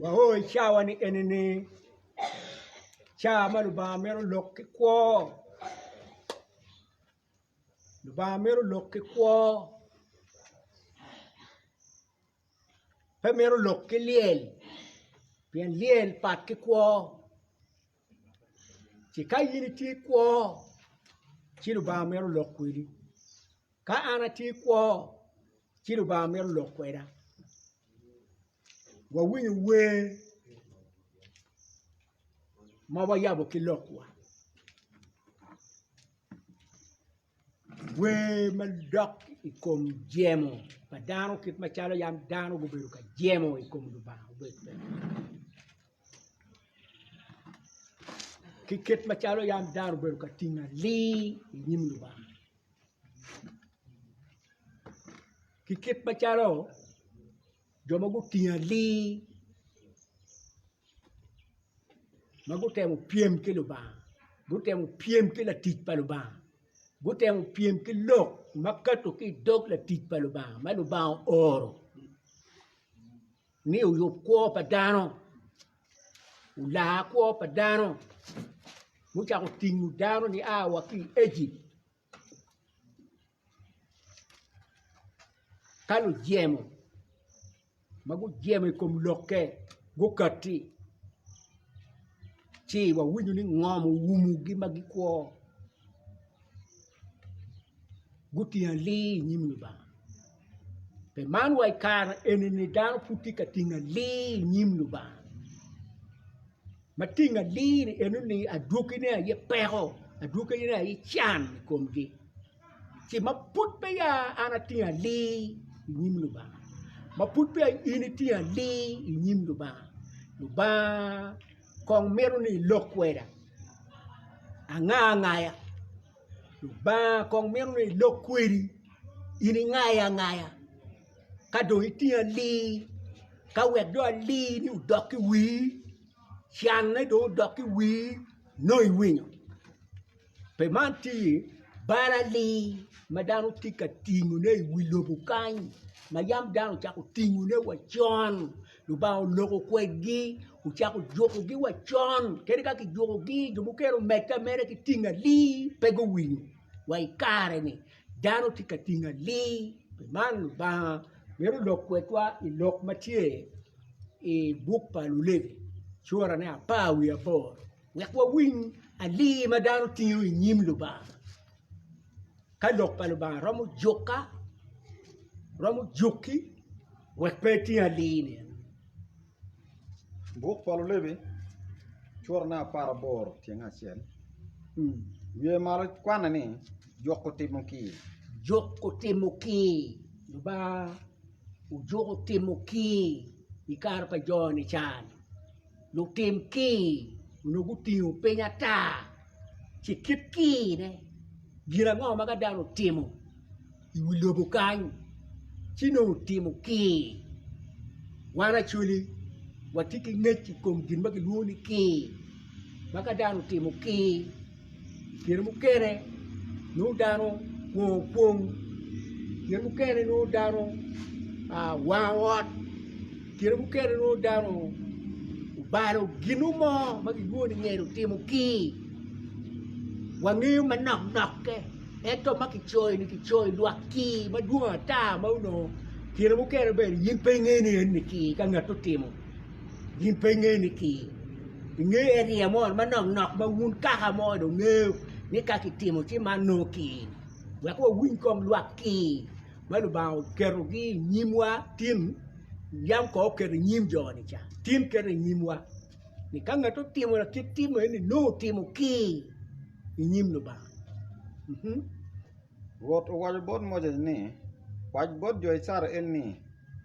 Wao i cawani enini ca ma Lubanga mito lok ki kwo, Lubanga mito lok ki kwo pe mito lok ki lyel pien lyel pat ki kwo. ci ka in itye kwo ci Lubanga mito lok kwedi ka an atye kwo ci Lubanga mito lok kweda wawinyo wer ma wayabo ki lokwa. Wer madok i kom jemo pa dano kit macalo yam dano gubedo ka jemo i kom Lubanga ki kit macalo yam dano obedo ka tingo alir i nyim Lubanga ki kit macalo Jo ma gutingo atir ma gutemo pyem ki Lubanga gutemo pyem ki latic pa Lubanga gutemo pyem ki lok ma kato ki i dog latic pa Lubanga ma Lubanga ooro ni oyub kwo pa dano olar kwo pa dano mucako tingo dano nia wa ki i Ejipt. Ka lujemo ma gujemo i kom lokke gukati, ci wawinyo ni ngom owumogi ma gikwo, gutingo alii i nyim Lubanga. Pi man wa i kare eni dano pud tye ka tingo alir i nyim Lubanga ma tingo alir enoni adwogine aye peko adwogine aye can i komgi ci ma pud peya an atingo alir i nyim Lubanga ma pud peya in itingo alir i nyim Lubanga, Lubanga kong mito ni ilok kweda angangaya Lubanga kong mito ni elok kwedi in ingaye angaya ka dong itingo alii ka wek dong alii-ni odok ki i wii, canne dong odok ki i wii nongo iwinyo pi man tye iye bal alii ma dano tye ka tingone i wi lobo kany ma yam dano ocako tingone wa con. Lubanga oloko kwedgi ocako jukogi wa con kadi ka kijukogi jo mukene omedde ameda ki tingali pe guwinyo wa i kare-ni dano tye ka tingali pi man Lubanga mito lok kwedwa i lok ma tye i buk pa Lulevi curane apar wiye aboro wek wawiny ali ma dano tingo i nyim Lubanga. ka lok pa Lubanga romo jukka, romo jukki wek pe eting alii-ni. Buk pa Lulevi curne apar aboro tyeng acel wiye malo kwanne ni Juk Otimo Kii. Juk Otimo Kii, Lubanga ojuko timo kii i kare pa jo nican. Lutim kir onongo gutingo piny ata ci kit kirne gin ango ma ka dano otimo i wi lobo kany ci nongo otimo kir wan Acholi watye ki ngec i kom gin ma kilwongo ni kir ma ka dano otimo kir kine mukene nongo dano kwo kwong kine mukene nongo dano wango ot kine mukene nongo dano obalo gino mo ma kilwongo ni ngeno otimo kii wangeyo manok nokke ento ma kicoyo ni kicoyo lwak kii madwong ata ma onongo kine mukene bene in pe ingene ni eni kii ka ngat otimo Gin pe ingeyo ni ki i nge eria mo manok nok ma wun kaka mo do ngeyo ni ka ki timo ci man nongo ki wek wa winy kom lwak ki ma Lubanga oketo gi i nyim wa tin yam ko oketo i nyim jo ni ca tin keto i nyim wa ni ka ngat otimo lakit tim eni nongo otimo ki i nyim Lubanga. Rwot owaco bot Moses ni, Wac bot jo Icrael ni,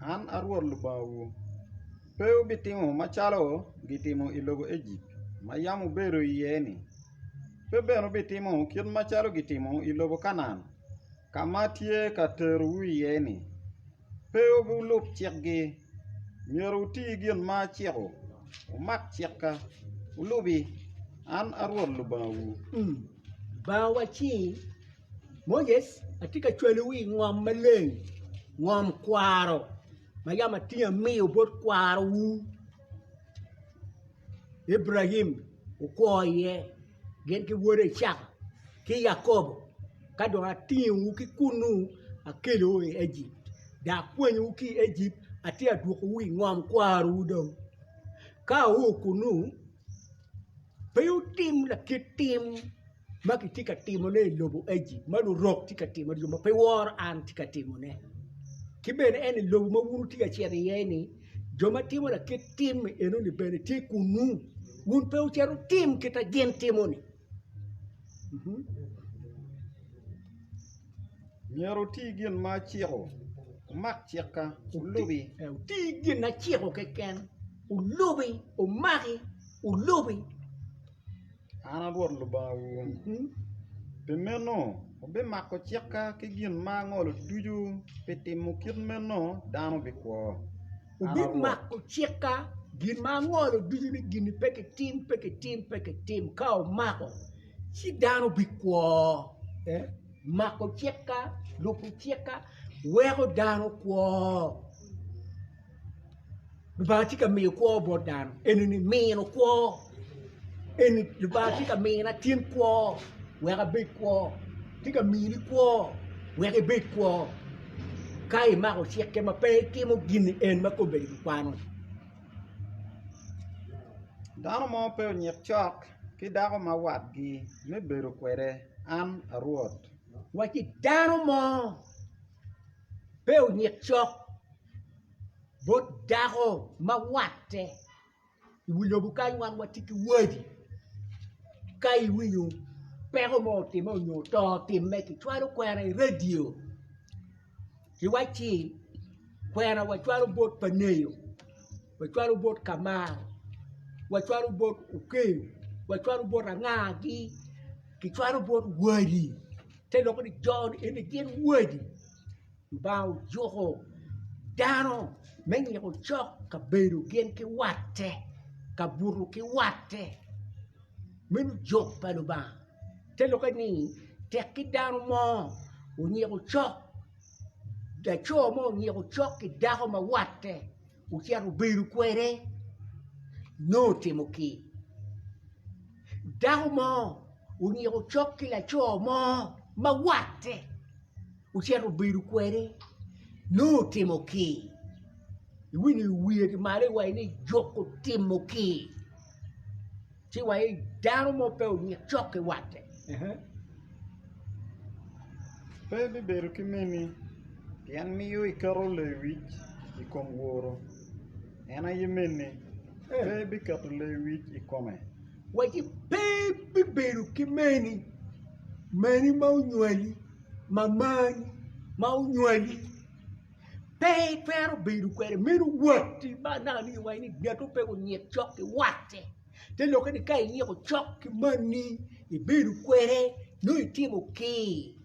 'An a Rwot Lubangawu. Pe wubitimo macalo gitimo i lobo Ejipt ma yam wubedo iye-ni, pe bene wubitimo kit macalo gitimo i lobo Kanaan ka ma atye ka terowu iye-ni. Pe wulub cikgi. Myero wuti gin ma aciko, wumak cikka, wulubi. An a Rwot Lubangawu. Baa wa ci, Moses, atye ka cwalowu i ngom maleng, ngom kwaro ma yam atingo amiyo bot kwarowu Ibrahim wukwo iye, gin ki wode Icaka ki Yakobo, ka dong atingowu ki kunnu akelowu i Ejipt, dok akwanyowu ki i Ejipt, atye ka dwokowu i ngom kwarowu dong. Ka awoo kunnu, Pe wutim lakit tim ma kitye ka timone i lobo Ejipt, jo ma lurok tye ka timone, jo ma pe woro an tye ka timone. Ki bene en ni lobo ma wun wutye ka cito iye-ni, jo ma timo lakit tim enoni bene tye kunnu, wun pe wucit wutim kit ma gin timo-ni. Myero wuti gin ma aciko, wumak cikka, wulubi. Wuti gin ma aciko keken, wulubi, wumaki, wulubi. An a Rwot Lubangawu. Pi meno, wubimako cikka ki gin ma angolo ducu, pi timo kit meno dano bikwo. Wubimako cikka, gin ma angolo ducu ni gin-ni pe kitim, pe kitim, pe kitim. Ka wumako, ci dano bikwo. Mako cikka, lubo cikka, weko dano kwo. Lubanga tye ka miyo kwo bot dano, eni-ni mino kwo. Eni Lubanga tye ka mina cen kwo wek abed kwo, tye ka mini kwo wek ibed kwo ka imako cikke ma pe itimo gin ni en ma kome rik ikwano. Dano mo pe onyik cok ki dako ma watgi me bedo kwede an a Rwot. Wacci, Dano mo pe onyik cok bot dako ma watte. I wi lobo kany wan watye ki wadi ka iwinyo peko mo otimme nyo to otimme kicwalo kwena i radio ki wacci kwena wacwalo bot pa ngeyo wacwalo bot ka mar wacwalo bot okeyo wacwalo bot anga gi kicwalo bot wadi te lok ni jo eni gin wadi Lubanga ojuko dano me nyiko cok ka bedo gin ki watte, ka buto ki watte me lujok pa Lubanga. Te lokke ni tek ki dano mo onyiko cok, laco mo onyiko cok ki dako ma watte, Wucito wubedo kwede, nongo otimo ki dako mo, onyiko cok ki laco mo ma watte, ocito obedo kwede, nongo otimo ki. Iwinyo i wiye ki malo iwaci ni juko timo ki. Ci wa i dano mo pe onyik cok ki watte. Pe bibedo ki mini, pien miyo iketo lewic i kom woro, en aye mini, pe biketo lewic i kome. Waci, Pe bibedo ki mini, mini ma onywali, mamani ma onywali. Pe itwero bedo kwede meno watti ma anaka ni iwaco ni ngatu pe onyik cok ki watti te lokke ni ka inyiko cok ki manni ibedo kwede nongo itimo kii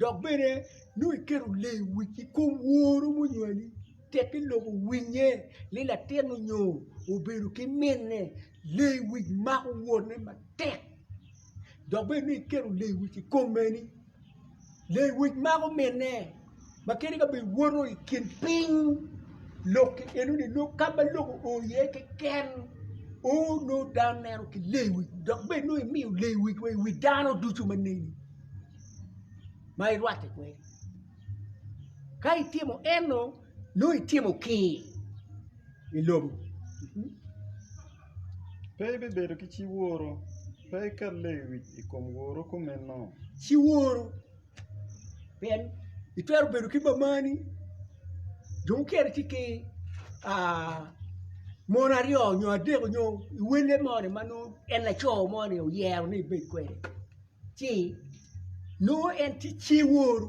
dok bene nongo iketo lee wic ki kom woru munywali tekki lok owinye ni latin onyo obedo ki minne lee wic mako wotne matek dok bene nongo iketo lee wic ki kom meni. Lewic mako minne ma kadi ka bed woto i kin piny lok ki enoni nongo ka ma lok oo iye keken oo nongo dano neno ki lewic dok bed nongo imiyo lewic wa i wi dano ducu ma neni ma irwatte kwede ka itimo eno nongo itimo kii i lobo. Pe ibibedo ki ci woro, pe iket lewic i kom woro kumeno. Ci woro, pien itwero bedo ki mamani, jo mukene tye ki mon aryo nyo adek nyo welle mo ni ma nongo en laco mo ni oyero ni ebed kwede ci nongo en tye ci woro.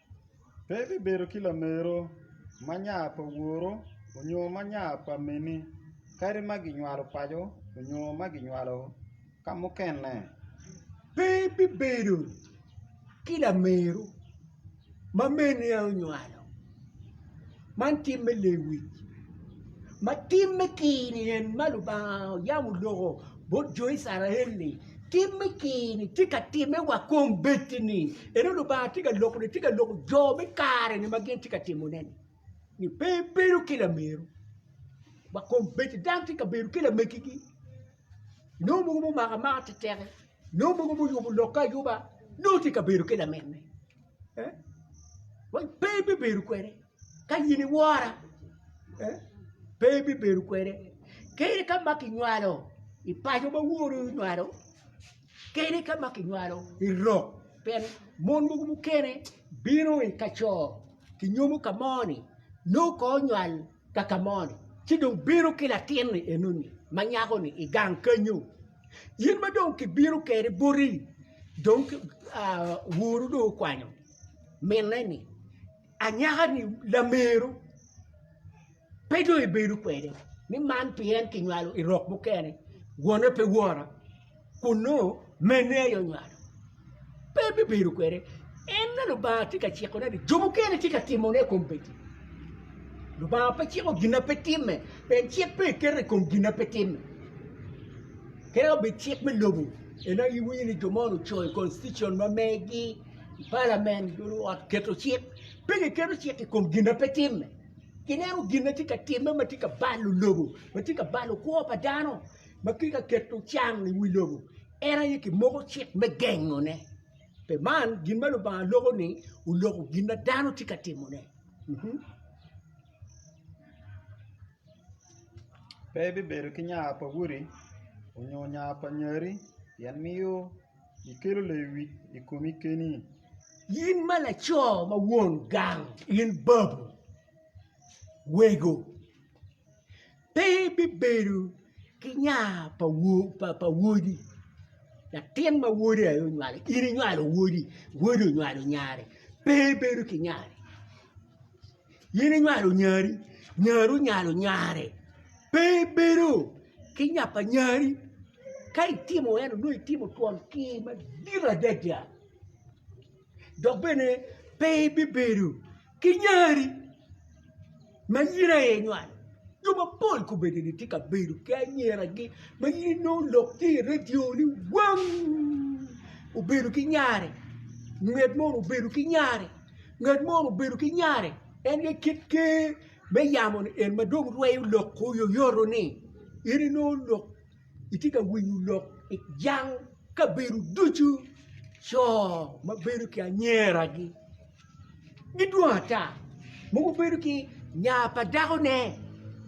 Pe ibibedo ki lamero ma nya pa woru onyo ma nya pa mini, kadi ma ginywalo paco onyo ma ginywalo ka mukene. Pe ibibedo ki lamero ma meni aye onywalo. Man tim me lewic ma timme kir-ni en ma Lubanga oyabo oloko bot jo Icrael-li tim me kir-ni tye ka timme wa kong bedi-ni eno Lubanga tye ka loko tye ka loko jo me kare-ni ma gin tye ka timone-ni ni pe ebedo ki lameru wa kong bedi dano tye ka bedo ki lamegigi nongo mogo mumako amaka teteki nongo mogo muyubo lokke ayuba nongo tye ka bedo ki laminne pe ibibedo kwede ka in iwora pe ibibedo kwede kadi ka ma kinywalo i paco ma wori onywalo kadi ka ma kinywalo i lok pien mon mogo mukene bino i kaco kinyomo ka moni nongo kongo onywal ka ka mo-ni, ci dong bino ki latin-ni enoni ma nyako-ni i gang kenyu. In ma dong kibino kwede boti, dong woro dong okwanyo minne ni, Anyaka-ni lameru, pe dong ibedo kwede, ni man pien kinywalo i rok mukene, wone pe wora. kun nongo mene aye onywalo, pe bibedo kwede. En ma Lubanga tye ka cikone ni jo mukene tye ka timone i kom peki. Lubanga pe ciko gin ma pe timme, pien cik pe eketo i kom gin ma pe timme. Kadi ka obed cik me lobo, en aye iwinyo ni jo moni ocoyo i constitution ma megi, i palamen, jo luot keto cik. Pe giketo cik i kom gin ma pe timme. Gineno gin ma tye ka timme ma tye ka balo lobo, ma tye ka balo kwo pa dano. ma kit ka keto can i wi lobo en aye ki moko cik me gengone pi man gin ma Lubanga loko ni oloko gin ma dano tye ka timone pe ibibedo ki nya pa wodi onyo nya pa nyari pien miyo ikelo lewic i komi keni. In ma laco ma won gang in babu wego. pe bibedo ki nya pa wodi latin ma wode aye onywalo in inywalo wodi, wodi onywalo nyare pe ibedo ki nya in inywalo nyari, nyari onywalo nyare pe ibedo ki nya pa nyari ka itimo ento onongo itimo twon kir madit adada dok bene pe ibibedo Ki nyari ma in aye inywalo, jo mapol kobeddi ni tye ka bedo ki anyiragi ma in inongo lok tye i redio ni wang! obedo ki nyare, nget moni obedo ki nyare, ngat moni obedo ki nyare. En aye kit ker me yamo-ni en ma dong rweyo lok oyoyoto-ni in inongo lok Itye ka winyo lok i jang kabedo ducu, co ma bedo ki anyeragi gidwong ata, mogo bedo ki nya pa dakone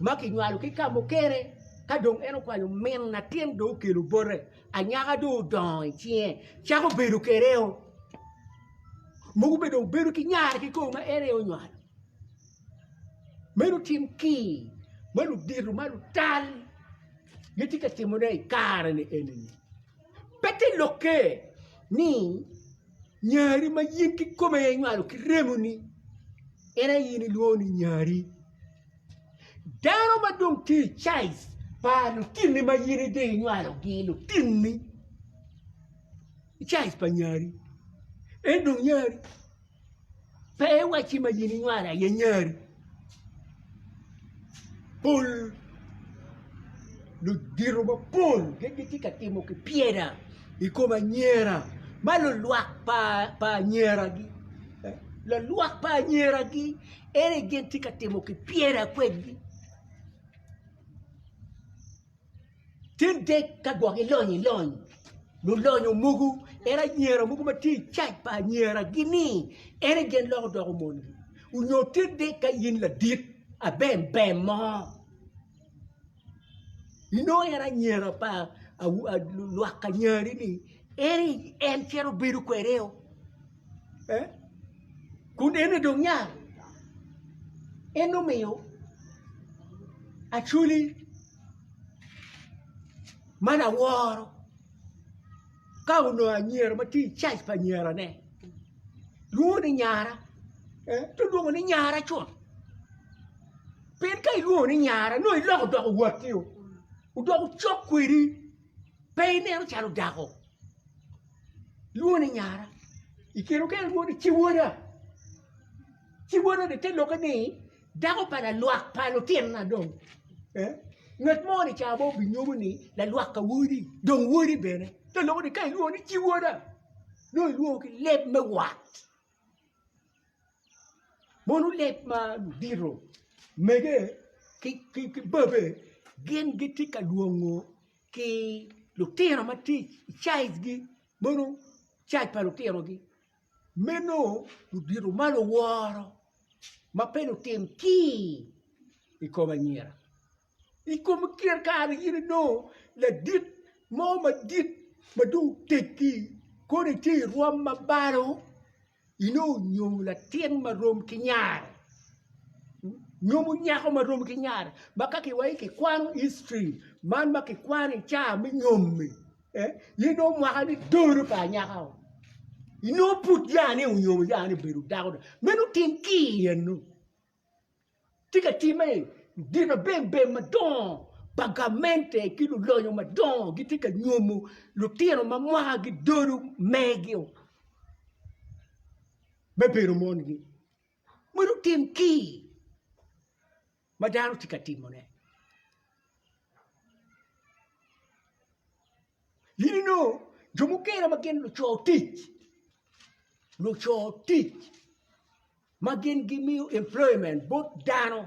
ma kinywalo ki ka mukene ka dong en okwanyo min latin dong okelo bote anyaka dong odongo i cinge cako bedo kwede o, mogo bene dong bedo ki nyare kikome ma en aye onywalo. Meno cim ki ma ludito ma lutal gitye ka timone i kare-ni eni pe te lokke ni nyari ma in kikome inywalo ki remoni en aye in ilwongo ni nyari. Dano ma dong tye i caic pa lutinni ma in idong inywalogi lutinni icaic pa nyari en dong nyari. Pe iwacci ma gin inywalo aye nyari. Pol ludito mapol gin gitye ka timo ki pyera i kom anyira ma lulwak pa anyiragi. Lulwak pa anyiragi ene gin tye ka timo ki pyera kwedgi. Tye dek ka gwok ilony ilony lulonyo mogo ento anyira mogo ma tye i cac pa anyira gi ni en egen lok odoko mongi onyo tye dek ka in ladit abem bem mo inongo en anyira pa lwak anyira ni ni en cito bedo kwede o. kun en aye dong nyang en omiyo acwali ma laworo ka onongo anyira ma tye i caij pa anyirane lwongo ni nyara ci olwongo ni nyara co pien ka ilwongo ni nyara nongo iloko odoko watti odoko cok kwedi pe ineno calo dako. lwongo ni nyara i kin okene lwongo ni ciwoda, ciwoda ni te lwokke ni dako pa lalwak pa lutinna dong ngat mo ni ca mo obinyomo ni lalwak pa wodi dong wodi bene te lwongo ni ka ilwongo ni ciwoda nongo ilwongo ki leb me wat. Mono leb madito mege ki babe gin gitye ka lwongo ki lutino ma tye i cajgi mono caij pa lutinogi meno ludito ma luworo ma pe lutim kii i kom anyira. i kom kine kare in inongo ladit mo madit ma dong oteggi kono itye i rwom ma balo inongo onyom latin ma rom ki nyare nyomo nyako ma rom ki nyare ma ka kiwaci kikwano history man ma kikwano i caa me nyom-mi in inongo mwakani tolu pa anyaka-u inongo pud yani onyomo yani obedo dako dong meno otim ki i eno tye ka timme, ginabembe madongo pa gamente ki lulonyo madongo gitye ka nyomo lutino ma mwakagi dodo mego me bedo mongi. Ma lutim kii ma dano tye ka timone. In inongo jo mukene ma gin luco tic, luco tic ma gin gimiyo employment bot dano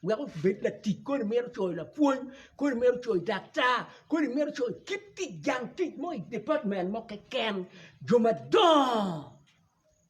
wek obed latic kodi mito co i lapwony, kodi mito co i daktar, kodi mito co i kit tic jang tic mo i department mo keken, jo madongo.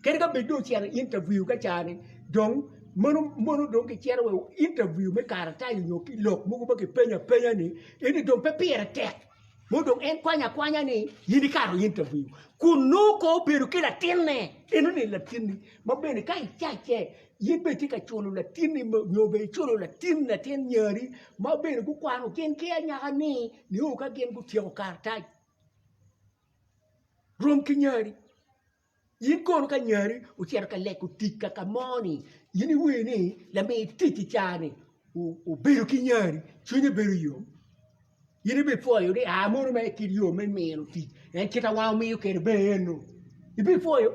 Kadi ka bed dong ocito i interview ka ca ni dong mono mono dong ki cito wa i interview me karatac onyo ki lok mogo ma ki penyo apenya ni eni dong pe pire tek mono dong en kwanyo akwanya ni in ikato i interview kun nongo ko obedo ki latinne eno ni latinni ma bene ka icace in bene itye ka culo latinni ma onyo bene iculo latin latin nyari ma bene gukwano gin ki anyaka ni nio ka gin gutyeko karatac rom ki nyari. In kono ka nyari ocito ka leko tic kaka moni in iwinyo ni lami tic i caa-ni obedo ki nyari cwinye bedo yom in ibipwoyo ni aa mono mere kit yo me mino tic pien kite ma wumiyo kwede bene eno ibipwoyo?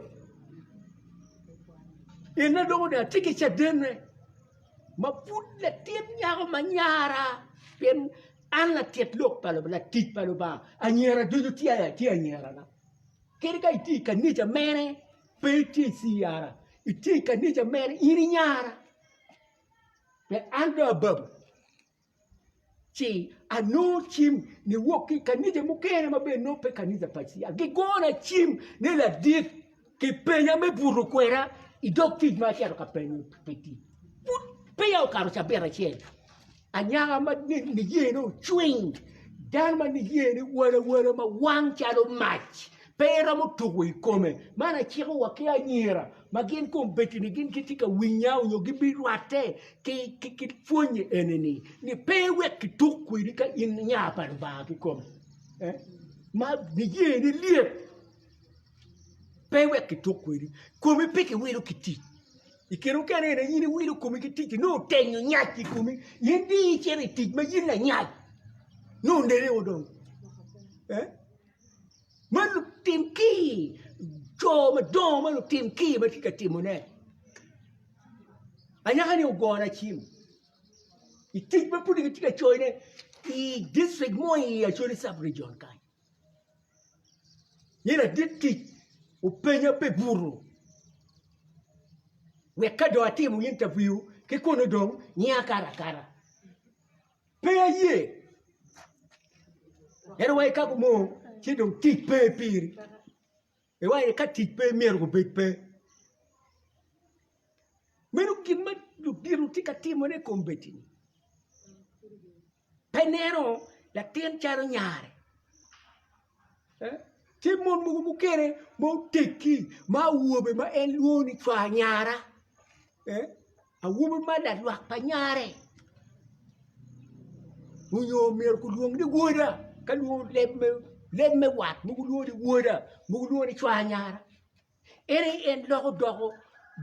En adwogo dong atye ki cadene ma pud latin nyako ma nyara pien an latit lok pa Lubanga latic pa Lubanga anyira ducu tye anyirana Kadi ka itye i kanica mene, pe itye i CR, itye i kanica mene, in inyara. Pe an dong ababo ci anongo cim niwok ki i kanica mukene ma bene nongo pe kanica pa CR. Gigona cim ni ladit kipenya me buto kwena i dog tic ma acito ka penyo pi tic. Pud peya okato cabit acel. Anyaka ma niyene ocwiny, dano ma niyene wal awala ma wang calo mac, pe iromo tuko i kome. Man aciko wa ki anyira ma gin kombeddi-ni gin gitye ka winya nyo gibirwatte ki pwonye eni-ni, ni pe wek kituk kwedi ka in nya pa Lubanga kikome. Ma niyene lyet, pe wek kituk kwedi, komi pe kiwilo ki tic. I kine mukene aye in iwilo komi ki ticci nongo otenyo nyac i komi in dong icito i tic ma in lanyac nongo onene o dong ma lutim kir co madongo ma lutim kir ma tye ka timone anyaka-ni ogona cim i tic ma pud kitye ka coyone i dicrik mo i Acholi cabregion kany. Ni ladit tic openya pi buto wek ka dong atimo intaviu ki kunu dong ngiya akato akata. Pe aye, ento wa ikako mo ci dong tic pe piri. Iwaco ni ka tic pe myero gubed pe. Meno gin ma ludito tye ka timone i kombeddi-ni. Pe ineno latin calo nyare, tye mon mogo mukene ma oteggi ma awobe ma en lwongo ni cwar nyara. Awobi ma lalwak pa nyare onyo myero kulwong ni woda ka lwongo leb me wat mogo lwongo ni woda mogo lwongo ni cwar nyara en aye en loko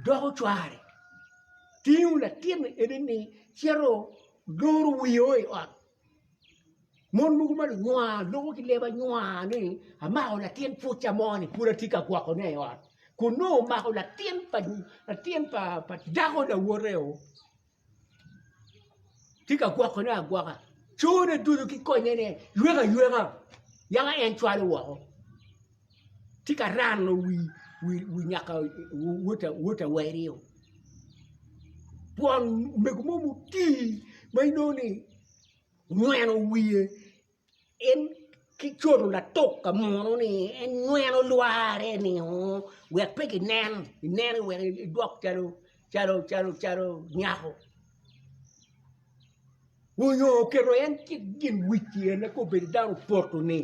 doko cware tingo latinni ene ni cito loro wiye o i ot. Mon mogo ma lunywar loko ki leb anywar ni amako latin puca mo ni pud atye ka gwokone i ot kun nongo omako latin pa latin pa dako lawote o tye ka gwokone agwoka cone ducu ki konyene yweka yweka yaka en cwalo woko. tye ka rano wi nyaka wota weri-o twon mego mo mutii ma inongo ni onyweno wiye en ki coto latuk ka munu ni en nyweno lware ni oo wek pe ginen inene wek idwok calo calo calo nyako. onyo oketo en cik gin wic pi en eka obed dano poto ni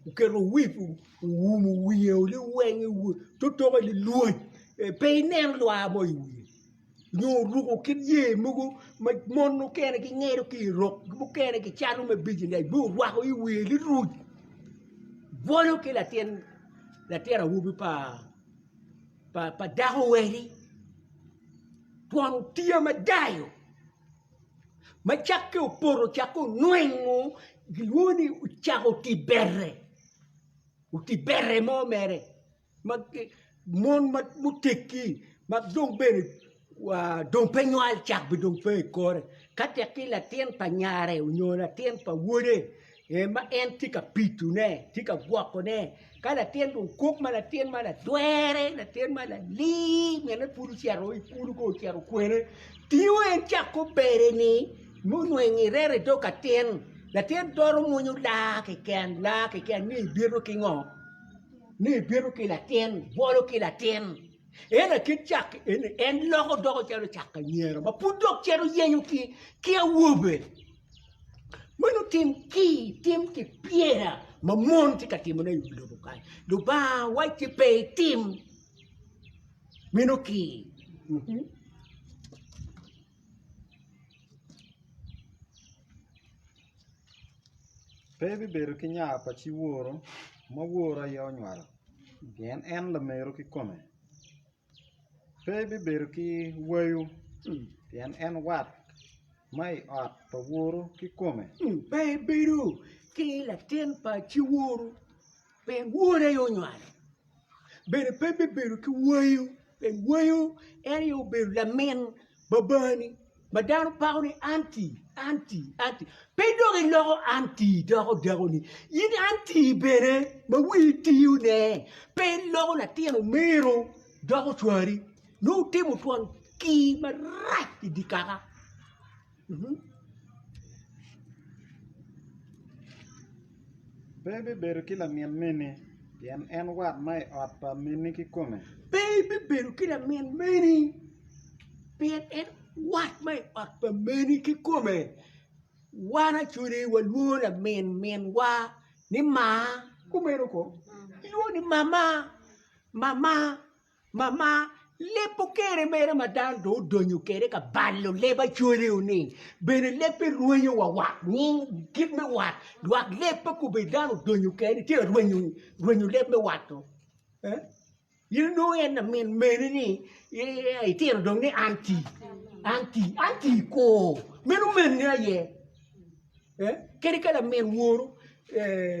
oketo wip owumo wiye ni wenge totoke lilwoc pe inen lwa mo i wiye nyo oruko kit yer mogo ma mon mukene gingedo ki irok mukene gicalo me bijinec ma orwako i wiye liruc bwolo ki latin awobi pa pa dako weri twon otiya madayo ma cakke opoto cakke onwengo gilwongo ni ocako oti bere oti bere mo mere ma mon ma gutegi ma dong bene dong pe nywal cak be dong pe i kore, ka tek ki latin pa nyare onyo latin pa wode ma en tye ka pitone, tye ka gwokone, ka latin dong kok ma latin ma latwere, latin ma lalir mine pud ocito i kulu ka ocito kwene, tingo en cak ki obedeni ma onongo irette i dog atin, latin twero mwonyo laa keken, laa keken ni ibito ki ngo? ni ibito ki latin, ibwolo ki latin. En akit cak en, en loko doko calo cak anyera ma pud dok cito yenyo ki, ki awobe. Meno tim ki tim ki pyera ma mon tye ka timone i wi lobo kany. Lubanga wacci pe itim meno ki. Mhm. Pe ebibedo ki nya pa ci woro, ma woro aye onywalo. Pien en lameru kikome, pe bibedo ki wayo, pien en wat ma i ot pa woru kikome. Pe ebedo ki latin pa ciworu, pien wore aye onywale. Bene pe bibedo ki wayo, pien wayo en aye obedo lamin babani. Ma dano pako ni anti, anti, anti. Pe dok iloko anti doko dakoni. In anti bene ma wii tiyone. Pe iloko latin omiro doko cwari. Nongo wutimo twon kii marac i dye kaka. Pe ibibedo ki lamin meni, pien en wat ma i ot pa minni kikome. Pe ibibedo ki lamin meni, pien en wat ma i ot pa minni kikome. Wan acwali walwongo lamin minwa ni Maa, kumeno ko, ilwongo ni Mama, Mama. Mama, leb okere mere ma dano dong odonyo kede ka balo leb acwaleo ni bene leb pe rwenyo wa wak nying kit me wat dwak leb pe kobedi dano odonyo kede tye rwenyo rwenyo leb me wato eh in onongo en lamin meni ni itino dong ni an ti an ti an ti kor meno meni aye eh kadi ka lamin woro eh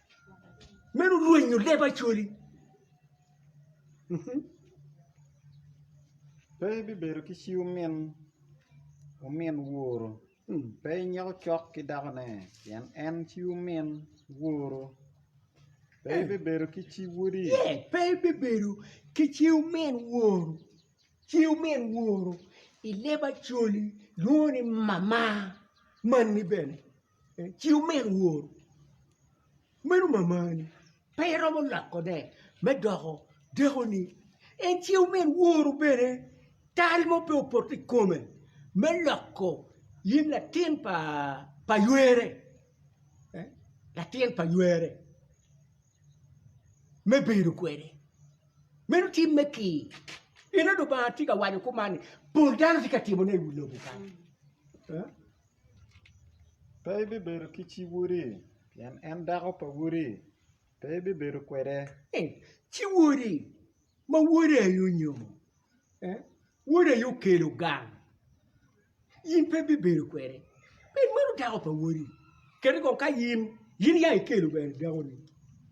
Meno rwenyo leb Acholi. Pe ibibedo ki ci omin omin woro, pe inyeko cok ki dakone, pien en ci omin woro. Pe ibibedo ki ci wodi. Pe ibibedo ki ci omin woro, ci omin woro i leb Acholi lwongo ni mama. Manni bene ci omedo woro, meno mamani pe iromo lokone me doko dekoni. En ci omed woro bene tal mo pe opoto i kome me loko in latin pa ywere, latin pa ywere me bedo kwede. Meno timme ki, pien Lubanga tye ka waco kuman ni pol dano tye ka timone i wi lobo kany. Pe ibibedo ki ci wodi, pien en dako pa wodi, pe ibibedo kwede. Ci wodi ma wode aye onyomo, wode aye okelo gang, in pe ibibedo kwede, pien meno dako pa wodi. Kadi bed ka in, in aye ikelo dakoni.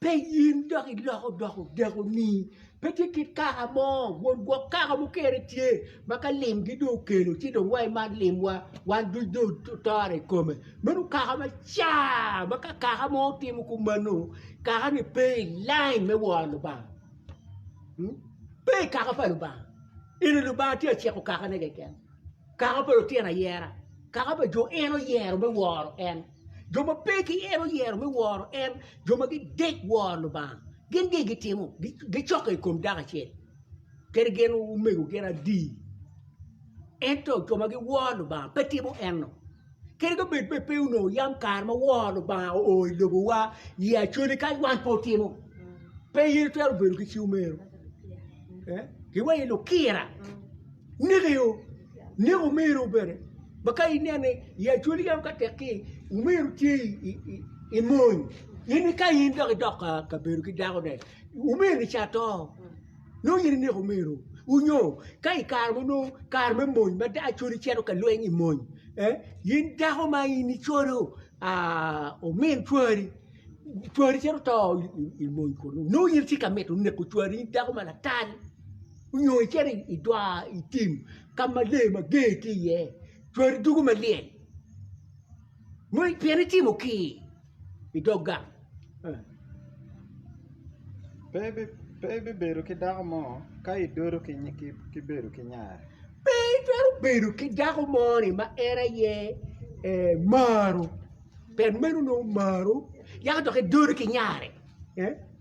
Pe in dok iloko dok odekoni. Pe tye kit kaka mo, won gwok kaka mukene tye, ma ka limgi dong okelo ci dong wa imat limwa, wan duc dong otore i kome. Meno kaka macar, ma ka kaka mo timo kong mano, kaka-ni pe i lain me woro Lubanga, pe i kaka pa Lubanga. Ento Lubanga tye ka ciko kakane keken. Kaka pa lutino ayera, kaka pa jo en oyero me woro en, jo ma pe ki en oyero me woro en, jo ma gidek woro Lubanga. Gin gin gitimo, gicokke i kom dako acel kadi gin omego gin adii. Ento jo ma giworo Lubanga pe timo enno. Kadi ka bed pe onongo yam kare ma woro Lubanga oo i lobowa i Acholi kadi wan pe otimo, pe in itwero bedo ki cing omero. Gin wai lukira, neko yo, neko omeru bene ma ka inene i Acholi yam ka tek ki omeru tye i mony in ka in dok idok kabedo ki dakone, omeroni ca to. Nongo in ineko omeru u nyo? Ka i kare ma nongo kare me mony ma dako codi cito ka lweny i mony, in dako ma in icodo omin cwari, cwari cito to i mony kunu nongo in itye ka mito neko cwari in dako ma latal nyo icito i dwar i tim ka ma lee mager tye iye cwari dugo malyel. Ngwec pien itimo kii i dog gang. Pe ibibedo ki dako mo ka idodo ki bedo ki nyar. Pe itwero bedo ki dako mo ni ma en aye maro pien meno nongo omaro yako dok idodo ki nyare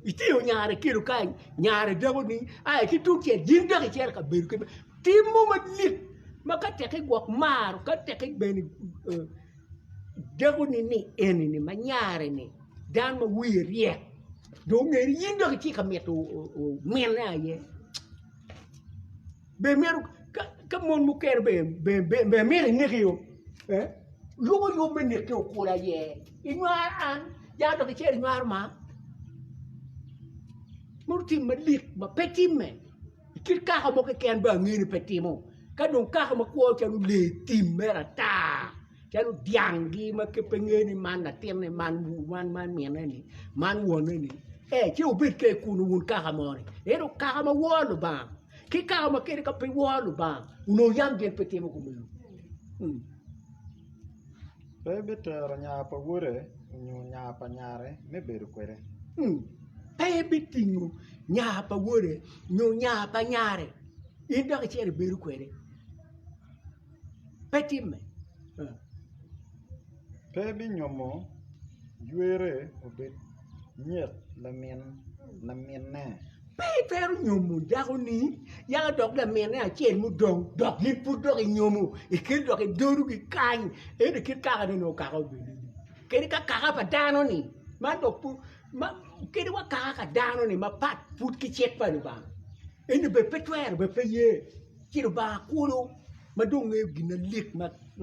itingo nyare kilo kany nyare dako ni aye ki tung cel in dok icito ka bedo ki Tim mo malit ma ka tek igwok maro ka tek bene idekoni ni eni ma nyare ni dano ma wiye ryek dong ongeri in dong itye ka mito mine aye be myero ka mon mukene be myero ineki oo lwongo yub me neki okole aye inywar an ya dok icer inywar ma meno tim malit ma pe timme. Kit kaka mo keken bene angeyo ni pe timo ka dong kaka makwo calo lee tim mere ata calo dyang gi ma pe ngeyo ni man latinne man minne ni man wonne ni ee ci wubed kede kunu wun kaka mo ni ento kaka ma woro Lubanga ki kaka ma kadi ka pe iworo Lubanga onongo yam gin pe timo kumeno. Pe ebitero nya pa wode onyo nya pa nyare me bedo kwede. Pe ebitingo nya pa wode nyo nya pa nyare in dok icito ibedo kwede. Pe timme. Pe ebinyomo ywere obed. nyet laminne. Pe itwero nyomo dako-ni yaka dok laminne acel mudong dok in pud dok inyomo ikit dok idodo kikany ento kit kaka nongo okaka obedoni kadi ka kaka pa dano-ni man dok pud kadi wa kaka ka dano-ni mapat pud ki cik pa Lubanga ento bed pe twero bed pe ye ci Lubanga kulu ma dong ngeyo gin malik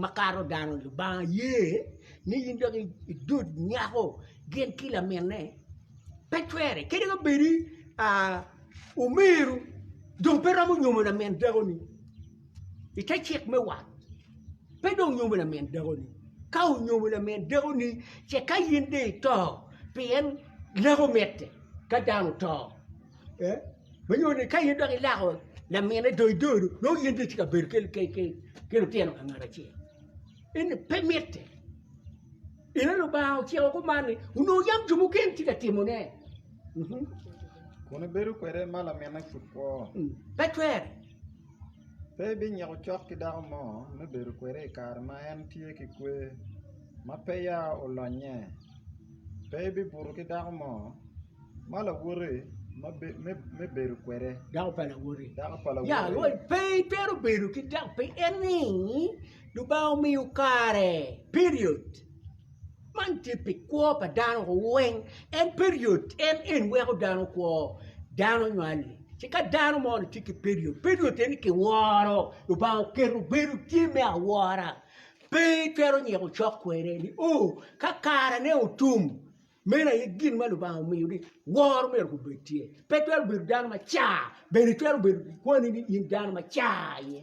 makato dano-ni Lubanga ye ni in dok idod nyako gin ki laminne pe cwere kadi ka bedi omeru dong pe romo nyomo lamin dakoni i te cik me wat pe dong nyomo lamin dakoni ka onyomo lamin dakoni ce ka in dong ito pien leko mitte ka dano oto ma nyuto ni ka in dok ilako laminne dong ido do nongo in dong itye ka bedo ki lutino ka ngat acel eni pe mitte. Ento Lubanga ociko kuman ni, Wunongo yam jo mukene tye ka timone. Kun ibedo kwede ma laminne pud kwo. Pe twer. Pe ibinyiko cok ki dako mo me bedo kwede i kare ma en tye ki kwe, ma peya olonye. Pe ibibuto ki dako mo ma lawoti me bedo kwede. Dako pa lawoti. Pe itwero bedo ki dako, pien ni Lubanga omiyo kare, period, man tye pi kwo pa dano weng, en period en en weko dano kwo, dano nywal-li ci ka dano moni tye ki period, period en ni kiworo, Lubanga oketo bedo tye me awora, pe itwero nyiko cok kwede ni oo ka karene otum, meno aye gin ma Lubanga omiyo ni woro myero obed tye, pe itwero bedo dano ma car bene itwero bedo ki kwoni ni in dano ma car aye.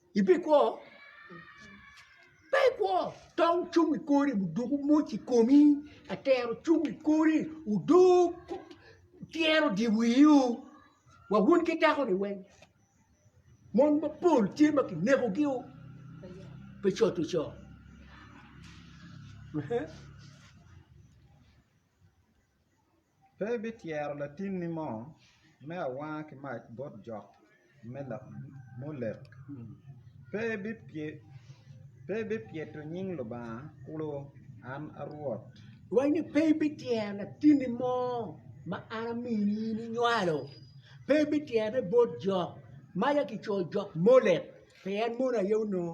Ibikwo? Pe ikwo! Tong cung i kori odug omoc i komi, atero cung i kori odug tyero dye wiu wa wun ki dako-ni weng, mon mapol tye ma kinekogi pe coto co. Pe ibityero latinni mo me awanga ki mac bot jok me Molek, pe ibipyeto nying Lubanga kulu. An a Rwot. Wacci ni, Pe ibityero latinni mo ma an amini in inywalo, pe ibityerone bot jok maca ki coyo jok Molek, pien mono aye onongo.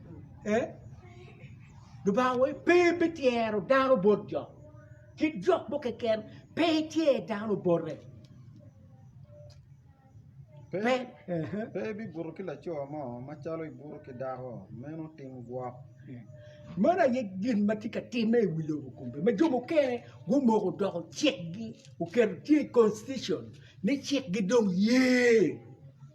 Lubanga wa pe bityero dano bot jo ki lok mo keken pe ityer dano bote pe ibibuto ki laco mo macalo ibuto ki dako meno tim gwok man aye gin ma tye ka timme i wi lobo kome ma jo mukene gumoko odoko cikgi oketo tye i constitution ni cikgi dong ye.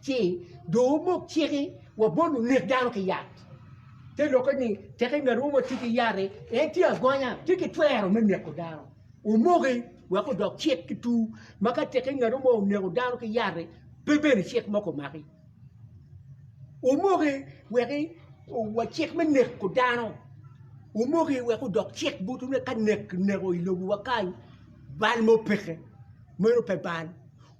Ci dong wumok ciki wa bot lunek dano ki yat. Te lokke ni, Tek i ngatwu ma tye ki yat-ti, en tye agonya, tye ki twero me neko dano. Wumoki wek odok cik ki tur, ma ka tek i ngatwu mo oneko dano ki yat-ti, pe bene cik mo komaki. Wumoki wek wa cik me neko dano, wumoki wek odok cik botwu ni ka nek kineko i lobowa kany, bal mo peke, meno pe bal.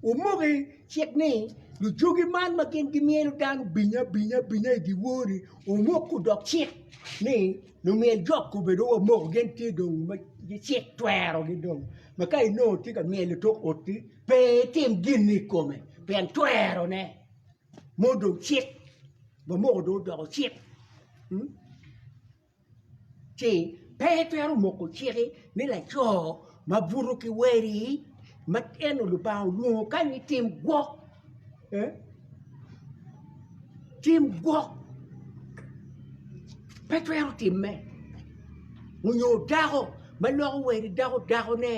Wumoki. Cik ni, Lucogi man ma gin gimyelo dano binyabinya i dyewor-ri omoko dok cik ni lumyel jok obedo wa moko gin tye dong ma cik twerogi dong ma ka inongo itye ka myelo i tok ot-ti pe itim gin-ni i kome pien twerone mo dong cik wa moko dong odoko cik. ci pe itwero moko ciki ni laco ma buto ki weri ma en onongo Lubanga olwongo kany ni tim gwok tim gwok pe twero timme onyo dako ma loko weri dako dakone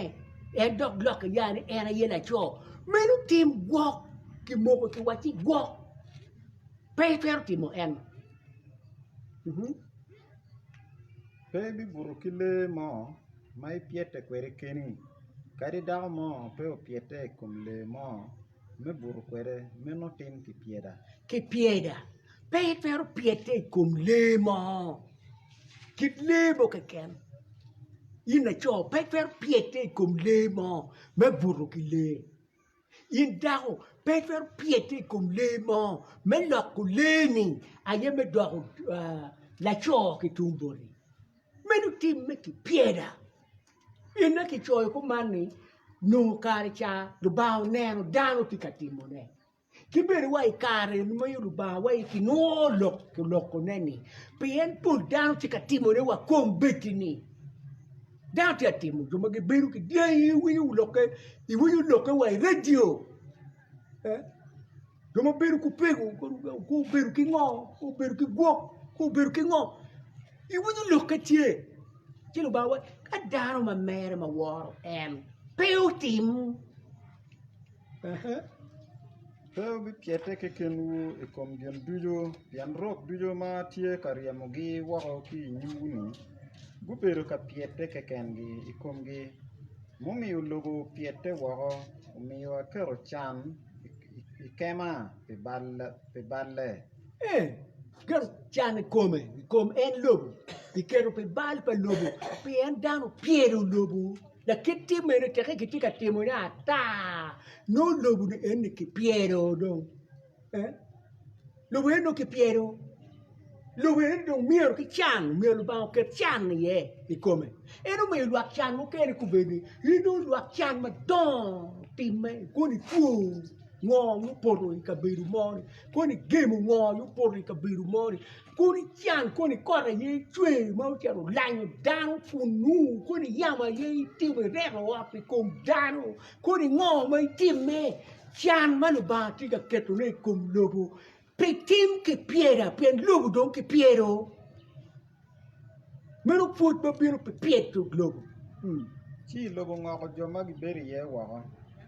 en dok lokke ya ni en aye laco meno tim gwok kimoko kiwaci gwok pe itwero timo eno. Pe ibibuto ki lee mo ma ipyete kwede keni kadi dako mo pe opyete i kom lee mo me buto kwede meno tim kipyeda kipyeda pe itwero pyete i kom lee mo kit lee mo keken in laco pe itwero pyete i kom lee mo me buto ki lee. In dako, pe itwero pyete i kom lee mo me loko lee-ni aye me doko laco ki tung boti, meno timme ki pyeda. Pien ni kicoyo kuman ni, Nongo kare ca Lubanga oneno dano tye ka timone. Ki bene wa i kare ma Lubanga waci kinwoyo lok olokone-ni, pien pol dano tye ka timone wa kombeddi-ni. Dano tye ka timo jo ma gibedo ki dyangi iwinyo lokke iwinyo lokke wa i redio eh? jo ma bedo ku pego ku obedo ki ngo ku obedo ki gwok ku obedo ki ngo iwinyo lokke tye ci lubanga waco ka dano ma mere ma woro en pe otim Eka pe wubipyete kekenwu i kom gin ducu, pien rok ducu ma atye ka ryemogi woko ki i nyimwu-ni gubedo ka pyete kekengi i komgi. Mumiyo lobo opyete woko, omiyo aketo can i kema pi balle. Lakit tye mene teke kitye ka timo ne ata nongo lobo ni eni ki pyero dong eh lobo eni dong ki pyero lobo eni dong myero ki can myero lubanga oket can iye i kome en omiyo lwak can mukene kubed ni in dong lwak can madongo timme koni two ngo mupoto i kabedo mo ni koni gemo ngo mupoto i kabedo mo ni Kodi can koni kot aye icweyo ma ocito olanyo dano pun nungu kodi yamo aye itimo ireto ot i kom dano kodi ngo ma itimme can ma Lubanga tye ka ketone i kom lobo pi tim ki pyera pien lobo dong ki pyero meno pwod ma bino pi pyeto lobo. Ci lobo ngoko jo ma gibedo iye woko,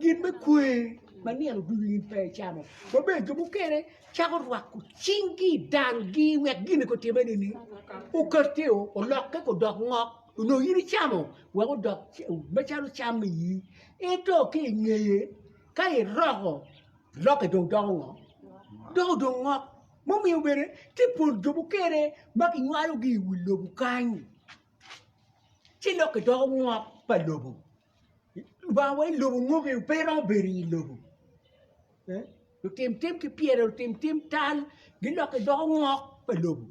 Gin me kwer ma nino ducu in pe icamo, maber jo mukene cako rwako cingi i danggi wek gin eko otimme nini okati o olokke ko odok ngok onongo in icamo wek odok macalo cam me iyi ento ki ingeye ka iroko lokke dong doko ngo? doko dong ngok ma omiyo bene tye pol jo mukene ma kinywalogi i wi lobo kany ci lokke doko ngok pa lobo. Lubanga wa i lobo ngo bene pe romo bedo i lobo lutim tim ki pyere lutim tim tal gilokke doko ngok pa lobo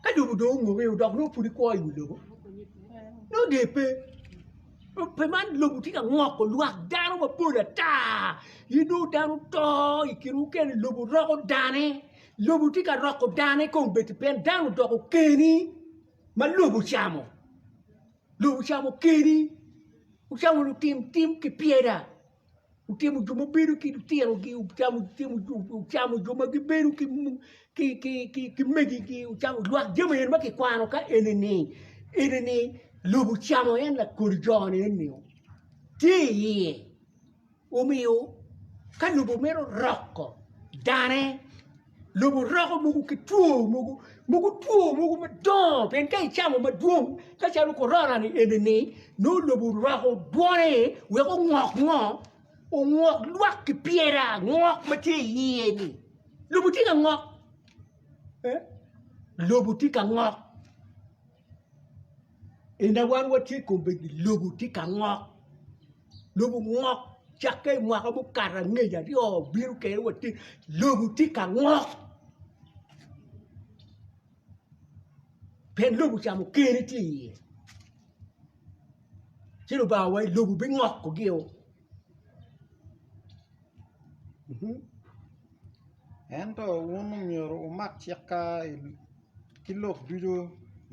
ka lobo dong ongokke o dok nongo pud ikwo i wi lobo nongo der pe pe man lobo tye ka ngoko lwak dano mapol ata in dong dano oto i kin mukene lobo roko dane lobo tye ka roko dane kong bedi pien dano odoko keni. ma lobo ocamo, lobo ocamo keni, ocamo lutim tim ki pyera, ocamo jo ma bedo ki lutirogi, ocamo jo ma gibedo ki megigi, ocamo lwak jami eni ma kikwano ka eni-ni, eni-ni lobo ocamo en lakol jo-ni eni tye iye. Omiyo ka lobo meno roko dane, lobo roko mogo ki two mogo, mogo two mogo madongo pien ka icamo madwong macalo korona ni enini nongo lobo oroko dwone wek ongok ngo, ongok lwak ki pyera ngok ma tye iye-ni lobo tye ka ngok, lobo tye ka ngok. En aye wan watye i kom bedo ni lobo tye ka ngok lobo ngok cakke i mwaka mukato angec aryo bino kene watye lobo tye ka ngok pien lobo ocamo kene tye iye ci lubanga owaco ni lobo bingoko gio ento wun omyero wumak cik ka ki lok ducu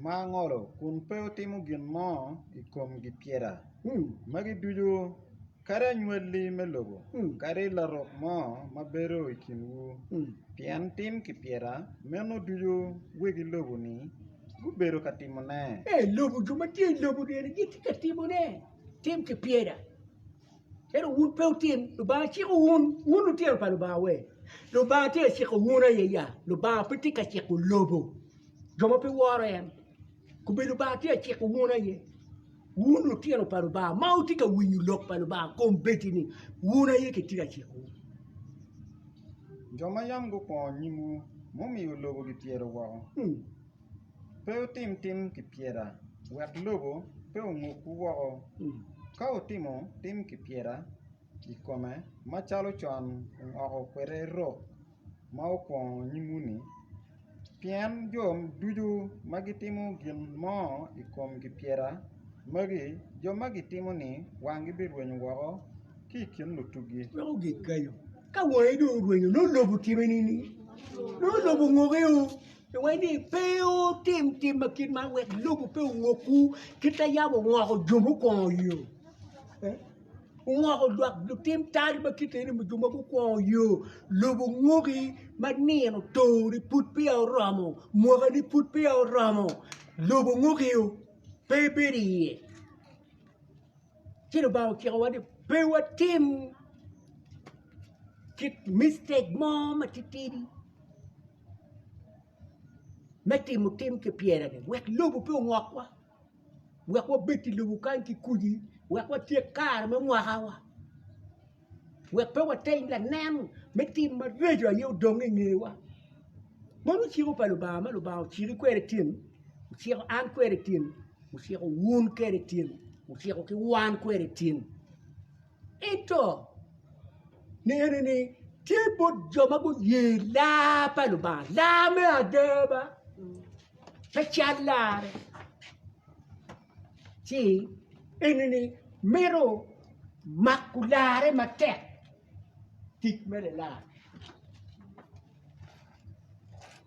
ma angolo kun pe wutimo gin mo i kom gipyeta magi ducu, kadi anywalli me lobo kadi larok mo ma bedo i kinwu, pien tim gipyeta meno ducu wegi lobo-ni gubedo ka timone. Ee, lobo, jo ma tye i lobo-ni bene gitye ka timone, tim gipyeta. Ento wun pe wutin, Lubanga ciko wun, wun lutino pa Lubanga we? Lubanga tye ka ciko wun aye ya? Lubanga pe tye ka ciko lobo, jo ma pe woro en. Kobbe Lubanga tye ka ciko wun aye? Wun lutino pa Lubanga ma wutye ka winyo lok pa Lubanga, kombeddi-ni wun aye kitye ka ciko wun. Jo ma yam gukwongo nyimwu, mumiyo lobo gityero woko. Pe wutim tim kipyeta, wek lobo pe ongukwu woko. Ka wutimo tim kipyeta i kome macalo con ongoko kwede rok ma wukwongo nyimwu-ni, pien jo ducu ma gitimo gin mo i kom kipyeta magi, jo ma gitimo-ni wanggi birwenyo woko ki i kin lutuggi. Pingo ni pe wutim tim ma kit man wek lobo pe ongokwu ki te yam ongoko jo mukwongo yo? Ongoko dwak lutim tal ma kit eni jo ma gukwongo yo, lobo ongoki ma nino towoni pud peya oromo, mwakani pud peya oromo, lobo ongoki o, pe ibedo iye. Ci Lubanga ocikowa ni pe watim kit mistake mo matitidi. me timo tim ki pyereni wek lobo pe ongokwa wek wabed i lobo kany ki kodi wek watyek kare me mwakawa wek pe wateny lanen me tim mareco aye odong i ngewa meno ciko pa Lubanga ma Lubanga ociki kwede tim ociko an kwede tim ociko wun kwede tim ociko ki wan kwede tim. Ento, nene ni, tye bot jo ma guye laa pa Lubanga, laa me adaba, pe cal larre. Ci eni-ni mito mako larre matek, tic me lilar.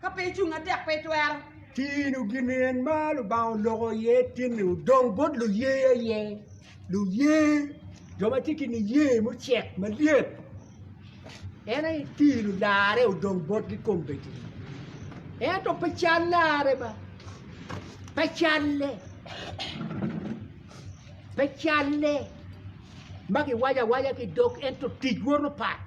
ka pe icung atek pe itwero. Tino gin en ma Lubanga oloko iye tin-ni odong bot luye aye. Luye, jo ma tye ki niye mucek malyet, en aye tino larre odong botgi kombeddi. Ento pe cal larre ba, pe calle, pe calle ma giwaco awaca ki dog ento tic woto pat.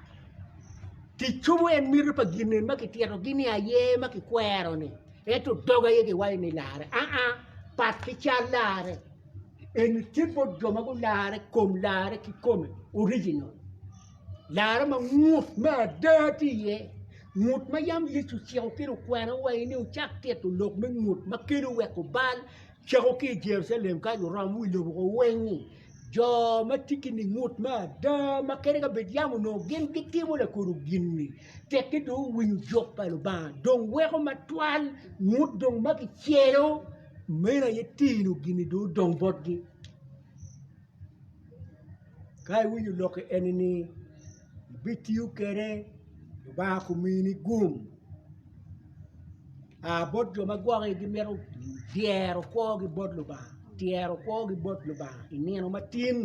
Tic cobo en miti pa gin eni ma kititogi ni aye ma kikwero-ni ento dog aye giwaco ni larre aa pat ki cal larre eni tye bot jo ma gularre i kom larre kikome original larre ma ngut me ada tye iye ngut ma yam Yecu ociko ci okwene wa ni wucak tito lok me ngut ma kelo weko bal cako ki i Jerucalem ka wuromo wi lobo wuweny-nyi Jo ma tye ki ningut me ada ma kadi ka bed yam onongo gin gitimo lakodo gin-ni, tekki dong owinyo jok pa Lubanga, dong weko matwal ngut dong ma kicelo, meno aye tino gin-ni dong odong botgi. Ka iwinyo lok-ki eni-ni. ibitiyo kwede Lubanga kumini gum aa bot jo ma gwoki gimito dyero kwogi bot Lubanga tyero kwogi bot Lubanga i nino matin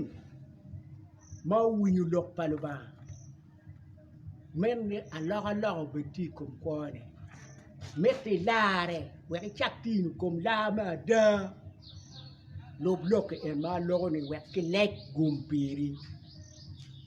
ma owinyo lok pa Lubanga meno alokaloka obed ki i kom kwone mitte ilarre wek icak tino i kom lar me ada lub lok en ma aloko ni wek kilec gum piri.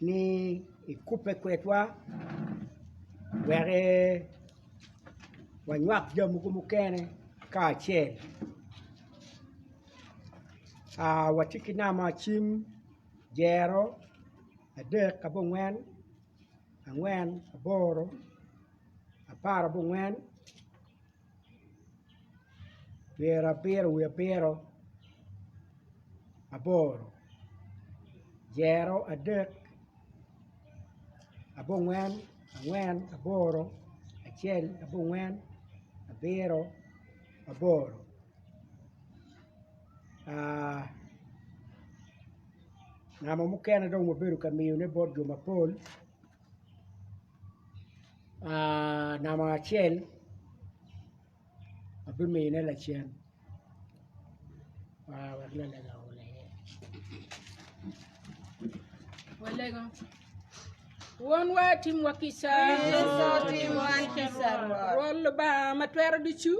ni ikubbe kwedwa wek wanywak jami mogo mukene kacel watye ki namba cim dyero adek abongwen angwen aboro apar abongwen pyera abiro wiye abiro aboro dyero adek abongwen angwen aboro acel abongwen abiro aboro namba mukene dong wabedo ka miyone bot jo mapol namba acel abimine lacen wonwa timwa kica rwot lubanga ma twero ducu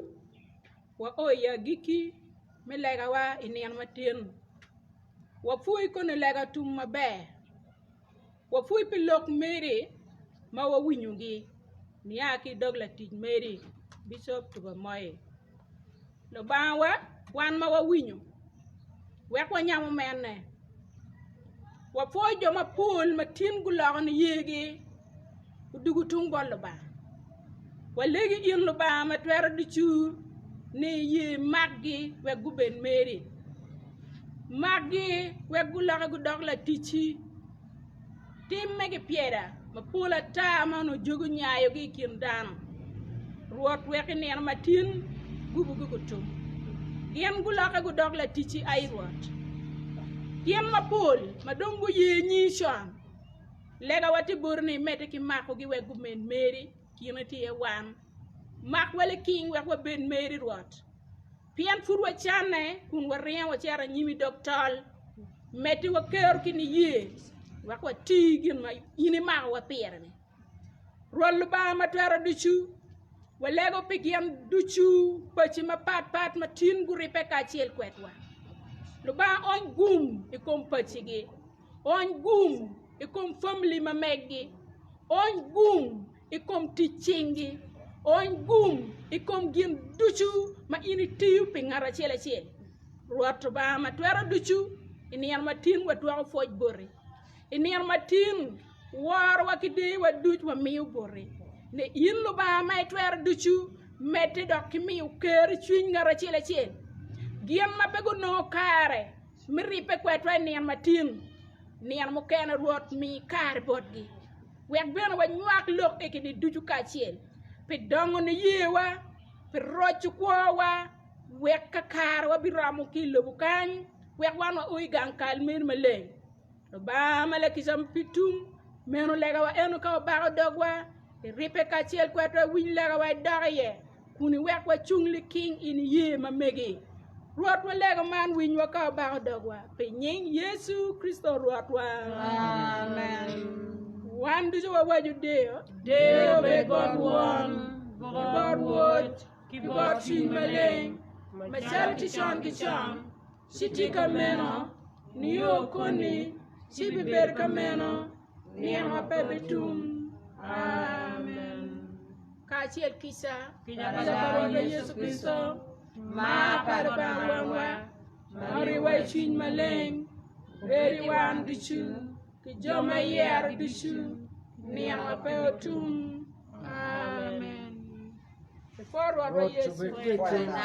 wa o i agikki me legawa i nino matyen wapwoyi koni lega tum maber Wapwony pi lok meri ma wawinyogi nia ki i dog latic meri, Bicop Tubemoye. Lubangawa, wan ma wawinyo, wek wanyamo mene. Wapwoyo jo mapol ma tin guloko niyegi odugo tung bot Lubanga. Walegi in Lubanga ma Twero Ducu ni iye makgi wek gubed meri. Makgi wek guloki gudok laticci. Tim me gipyeda mapol ata ma onongo jogi onyayogi i kin dano, Rwot wek i nino matin gubogi gutum. Gin gulokke gudok laticci ai Rwot. Tyen mapol ma dong guye nyingi con, legawa tye boti ni imedde ki makogi wek gumed meri, kine tye iye wan. Mak waliking wek wabed meri Rwot. Pien pud wacanne kun waringo wacito anyim i dog tol, medde wakero ki niye wek wati gin ma in imakowa pire-ni. Rwot Lubanga Matwero Ducu, walego pi gin ducu paci mapatpat ma tin guribbe kacel kwedwa. Lubanga ony gum i kom pacigi. Ony gum i kom famili ma megi. Ony gum i kom tic cingi. Ony gum i kom gin ducu ma in itiyo pi ngat acel acel. Rwot Lubanga ma twero ducu, i nino matin watwako pwoc boti. I nino matin worowa ki deyowa duc wamiyo boti. Ni in Lubanga ma itwero ducu, medde dok ki miyo ker i cwiny ngat acel acel gin ma pe gunongo kare. Me ribbe kwedwa i nino matin, nino mukene Rwot mi kare botgi, wek bene wanywak lok i gin-ni ducu kacel, pi dongo niyewa, pi roco kwowa, wek kakare wabiromo ki i lobo kany, wek wan wao i gang kal meri maleng. Lubanga ma lakica pi tum meno legawa eno ka wabako dogwa i ribbe kacel ki wat wawiny legawa i dok iye kun iwek wacung liking i niye ma megi. Rwotwa lego man winywa ka wabako dogwa pi nying Yecu Kricito Rwotwa. Amen. Wan ducu wawaco deyo, deyo be bot Won, ki bot Woc, ki bot Cwiny Maleng, macalo ti con ki con, Ci tye ka meno nio koni, ci bibedo ka meno nino ma pe bitum. Amen. Kacel kica kica pa Lubanga Yecu Kricito, mar pa Lubanga Wonwa, ma oriwa i Cwiny Maleng, bed i wan ducu. ki jo ma yero ducu nino pe otum amen Rwot obed kweda.